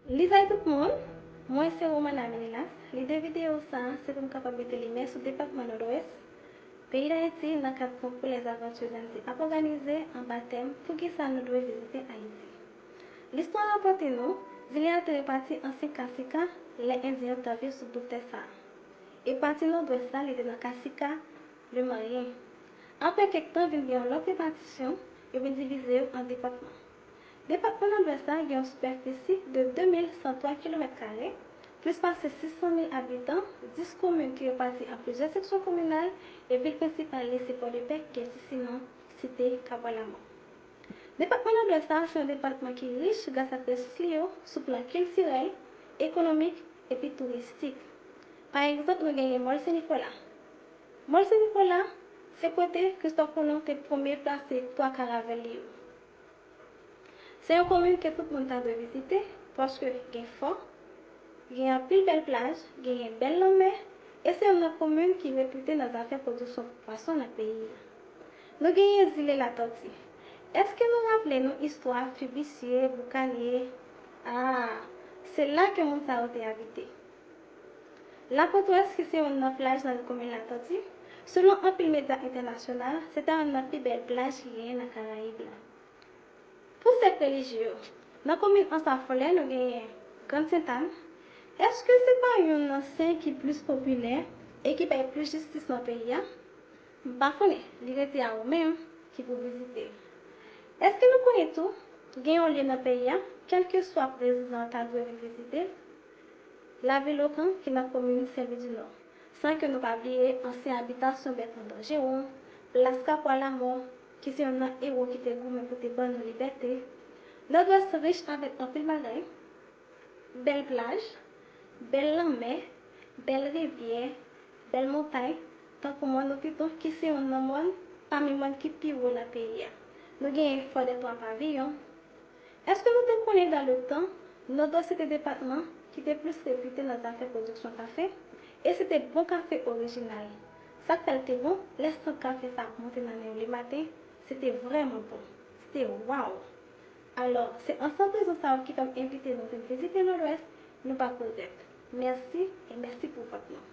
Lizay tout moun! Mwen se Romana Meninas. Lide videyo sa a se pou m kapab mete limyè sou depatman Nòdwès peyi Dayiti nan kad konkou Les Aventures Andy ap òganize anba tèm Poukisa nou dwe vizite Ayiti? Listwa rapòte nou, zile a te repati ansyen Kasika lè Endyen yo t ap viv sou bout tè sa a. E pati Nòdwès la li te nan Kasika Le Manyen. Apre kèk tan vin gen yon lòt repatisyon, yo vin divize yo an depatman. Depatman Nòdwès la gen yon sipèfisi de 2.103 kilomèt kare, plis pase 600 mil abitan, 10 komin ki repati an plizyè seksyon kominal e vil prensipal li se Pòdepè ki gen ti siman Site Kabwa Lamò. Depatman Nòdwès la se yon depatman ki rich gras ak resous li yo sou plan kiltirèl, ekonomik epi touristik. Pa egzanp nou genyen Mòl Sen Nikola. Mòl Sen Nikola se kote Kristòf Kolon te premye plase 3 karavèl li yo. Se yon komin ke tout moun ta dwe vizite paske gen fò, gen anpil bèl plaj, genyen bèl lanmè e se youn nan komin ki repute nan zafè pwodiksyon pwason nan peyi a. Nou genyen zile Latòti. Eske nou raple nou istwa Fibisye, Boukanye? Aa, se la ke moun sa yo te abite. Lapotwès ki se youn nan plaj nan komin Latòti, selon anpil medya entènasyonal, se ta youn nan pi bèl plaj ki genyen nan Karayib la. Pou sèk relijye yo, nan komin Ansafolè nou genyen Grand Sentàn, èske se pa youn nan sen ki plis popilè e ki bay plis jistis nan peyi a? M pa konnen, li rete a ou menm ki pou vizite. Èske nou konnen tou, gen yon lye nan peyi a, kèlkeswa prezidan ta dwe vin vizite? Lavil Okan ki nan komin Senlwidinò. San ke nou pa bliye ansyen abitasyon Bètran Danjeron, plas Kapwa Lamò, ki se yonn nan ewo ki te goumen pou te ban nou libète. Nòdwès rich avèk anpil bagay, bèl plaj, bèl lanmè, bèl rivyè, bèl montay, tankou Mòn Opiton ki se yonn nan mòn pami mòn ki pi wo nan peyi a. Nou genyen Fò dè Twa Paviyon, Èske nou te konnen dan le tan, Nòdwès se te depatman ki te plis repite nan zafè pwodiksyon kafe, e se te bon kafe orijinal. Sa k fè l te bon, lè sant kafe sa ap monte nan men w le maten, se te vrèman bon. Se te waww! Alò, se ansanm rezon sa yo ki fè m envite nou vin vizite Nòdwès, nou p ap regrèt. Mèsi, e mèsi pou vòt nou!